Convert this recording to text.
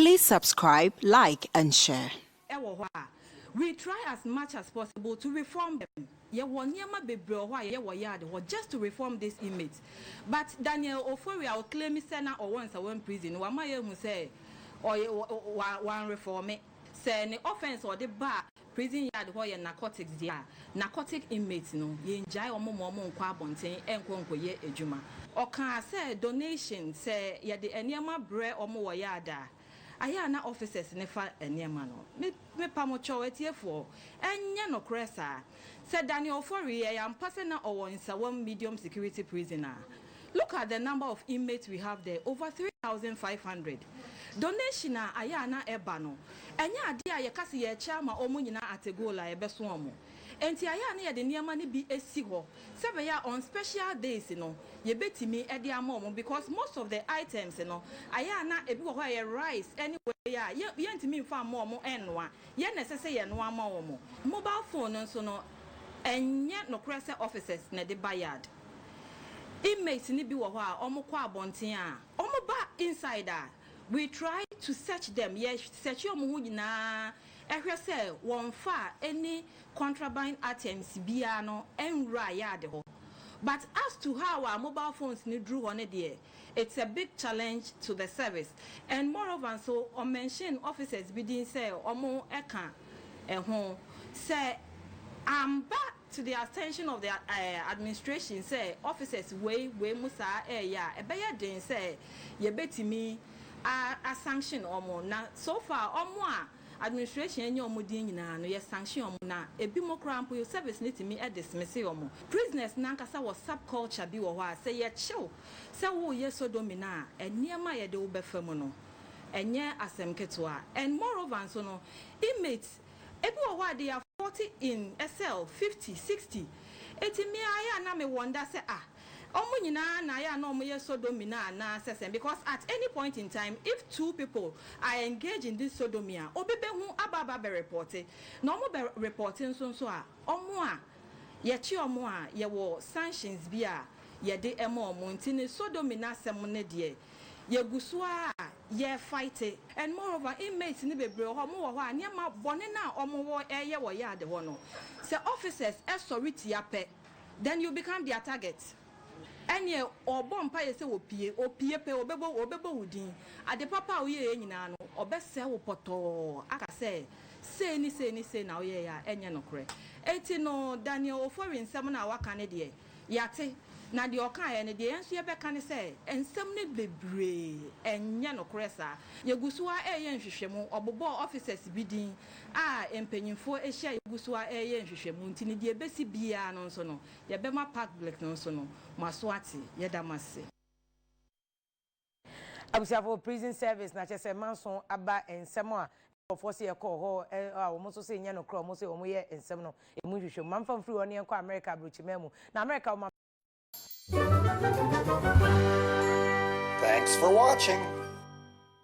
Please subscribe, like and share. wɔ hɔ a, we try as much as possible to reform them. Yɛwɔ nneɛma bebree wɔ hɔ a yɛyɛ wɔ yard hɔ just to reform these inmates. But Daniel Ofori a ɔclaimi sɛ na ɔwɔ Nsawam Prison no, wama yɛahu sɛ ɔyɛ, wa, wa, wanrefɔɔme. Sɛ ne offence a ɔde baa Prison yard hɔ yɛ narcotics deɛ a, narcotic inmates no, yɛngyae wɔn mma wɔn nkɔ abɔnten nkɔ nkɔyɛ adwuma. Ɔkaa sɛ donation, sɛ yɛde nneɛma brɛ wɔn wɔ yard a, ayɛ a na officers no fa nneɛma no. Me, mepa mo kyɛw, atiefoɔ, ɛnyɛ nokorɛ saa. Sɛ Daniel Ofori yɛ ampa sɛ na ɔwɔ Nsawam Medium Security Prison a, Look at the number of inmates we have there, over three thousand five hundred. Donation a ayɛ a na ɛba no, ɛnyɛ adeɛ a yɛka sɛ yɛrekyɛ ama wɔn nyinaa at a goal a yɛbɛso wɔn. Enti ayɛ a na yɛde nneɛma no bi si hɔ sɛ ɛbɛyɛ a on special days no, yɛbɛtumi de ama wɔn because most of the items no, ayɛ a na ebi wɔ hɔ a ɛyɛ rice ne wei a yɛ, yɛntumi mfa mma wɔn nnoa. Yɛn na ɛsɛ sɛ yɛnoa ma wɔn. Mobile phone no nso no, ɛnyɛ nokorɛ sɛ officers na ɛde ba yard. Inmates no bi wɔ hɔ a wɔn kɔ abɔnten a wɔn ba inside a we try to search them yɛ search wɔn ho nyinaa ɛhwɛ sɛ wɔn nfa any contraband items biaa no nwura yard hɔ but as to how a mobile phones no duru hɔ no deɛ it's a big challenge to the service and moreover nso wɔn mention officers bi din sɛ wɔn ɛka ɛho sɛ amba to the attention of the administration sɛ offices wei wei mo saa ɛɛyɛ a ɛbɛyɛ den sɛ yɛbɛtumi a a sanction wɔn na so far wɔn a administration anya wɔn din nyinaa no yɛ sanction wɔn na ɛbi mo koraa mpo service no tumi dismisse wɔn prisoners no ankasa wɔ sub culture bi wɔ hɔ a sɛ yɛkyew sɛ wo yɛ sodomy no a nneɛma a yɛde wo bɛfa mu no ɛnyɛ asɛm ketewa and moreover nso no inmates Ebi wɔ hɔ a they are forty in sɛl, fifty, sixty. Eti me ara yɛ a na me wonder sɛ ah ɔmo nyinaa na ayɛ a na ɔmo yɛ sodomy no anaa sɛ sɛn because at any point in time if two people are engage in this sodomy a obi bɛ hu aba aba bɛ repɔte na ɔmo bɛ repɔte nso nso a ɔmo a yɛ kye ɔmo a yɛ wɔ sanctions bi a yɛ de ma ɔmo nti ne sodomy no asɛm no deɛ Yɛgu so ara a yɛrefighte. And moreover inmates no bebree wɔ hɔ a wɔn wɔ hɔ a nneɛma bɔne no a wɔn wɔ reyɛ wɔ yard hɔ no sɛ officers sɔre tia pɛ then you become their target. Ɛneɛ ɔrebɔ mpaeɛ sɛ wɔpie, ɔpie pɛ ɔbɛbɔ ɔbɛbɔ wo din. Ade papa a woyɛeɛ nyinaa no ɔbɛsɛe wo pɔtɔɔ aka sɛ sei ne sei ne sei na woyɛeɛ a ɛnyɛ nokorɛ. Enti no Daniel Ofori nsɛm no a waka no deɛ. Yɛate, na deɛ ɔkaeɛ no, deɛ yɛn nso yɛbɛka ne sɛ, nsɛm no bebree, ɛnyɛ nokorɛ saa. Yɛgu so ara reyɛ nhwehwɛmu. Wɔbobɔɔ officers bi din a mpanimfoɔ ahyia a yɛgu so ara reyɛ nhwehwɛmu nti, ne deɛ ɛbɛsi biara no nso no, yɛbɛma public no nso no, moaso ate. Yɛda mo ase. Abusuafo, prison service na kyerɛ sɛ manso aba nsɛm a nkurɔfoɔ se yɛkɔɔ hɔ a wɔn nso se nyɛ nokorɛ wɔn se wɔn yɛ nsɛm no ɛmu nhwehwɛ mu. Mamfa mfiri hɔ ne yɛnkɔ Amerika abrokyimaa mu na Amerika wɔma. Thanks for watching.